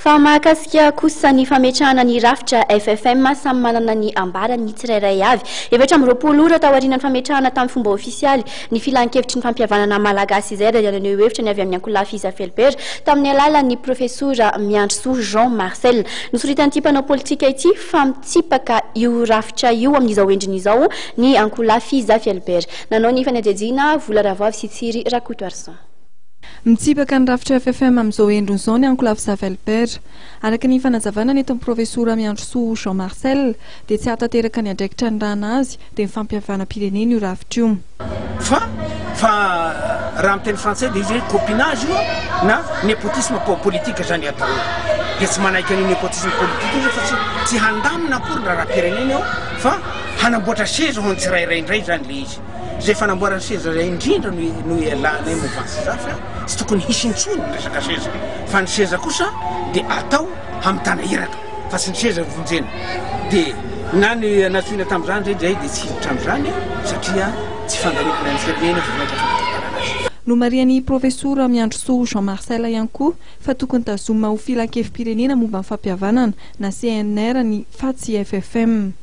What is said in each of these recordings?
Fa mahakasika kosa ny fametrahana ny rafitra FFM, samy manana ny ambarany ny tsirairay avy. Efatra amby roapolo ora taorianan'ny fametrahana tamin'ny fomba ofisialy ny Filankevitry ny Fampihavanana Malagasy izay dia naneho hevitra ny avy amin'ny Ankolafy Iza Felbert tamin'ny alalan'ny Profesora Miandrisoa Jean Marcel. Nosoritan'ity mpanao politika ity fa mitsipaka io rafitra io amin'izao endriny izao ny Ankolafy Iza Felbert. Nanao ny fanadihadiana Vola Ravoavy sy Tsiry Rakotoarison. Mitsipaka ny rafitra FFM amin'izao endriny izao ny ankolafy Zavelper. Araka ny fanazavana nentin'ny profesora Miandrisoa Jean Marcel dia tsy hahatanteraka ny andraikitra anirahana azy dia ny fampihavanam-pirenena io rafitra io. Fa fa raha amin'ny teny frantsay dia izy hoe copinage io na nepotisme politique izany atao hoe dia tsy manaiky an'io nepotisme politique io fa tsy tsy handamina akory ny raharaham-pirenena eo fa hanamboatra seza ho an'ny tsirairay indray izany ilay izy. Izay fanamboarana seza izay indrindra no no ialanay movantsy izany fa tsy tokony hisy intsony ny resaka seza fa ny seza kosa dia atao hamitana iraka fa tsy ny seza vonjena dia na ny natsoina tamin'izany re izay dia tsy hiditra amin'izany satria tsy fandalovana ny firenena vao mainka fandalovana azy. Nomarihan'ny Profesora Miandrisoa Jean Marcel ihany koa fa tokony tazomina ho Filankevi-pirenena momba ny fampihavanana na CNR ny fa tsy FFM.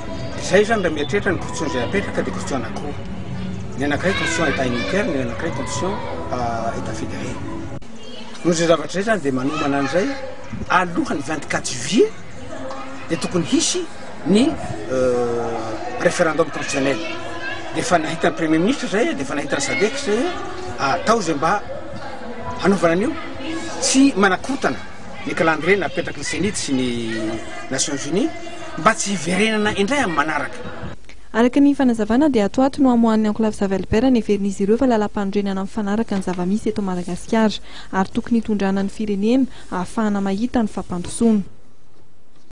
Izay izany raha mieritreritra ny condition izay apetraka dia condition anankiroa. Ny anankiray condition état unitaire, ny anankiray condition état fédéré. Noho izay zavatra izay izany dia manomana an'izay alohan'ny vingt quatre juillet dia tokony hisy ny référendum constitutionnel. Dia efa nahitan'ny premier ministre izay dia efa nahitan'ny sadec izay atao izay mba hanaovana an'io tsy manakorotana ny calendrier napetraky ny cenit sy ny nations unies. mba tsy hiverenana indray amin'ny manaraka. Araka ny fanazavana dia ato ho ato no hamoahan'ny Enclave Save Albert neverin'izy ireo fa lalàmpanorenana mifanaraka ny zava-misy eto Madagasikara ary tokony hitondrana ny firenena ahafahana mahita ny fampandrosoana.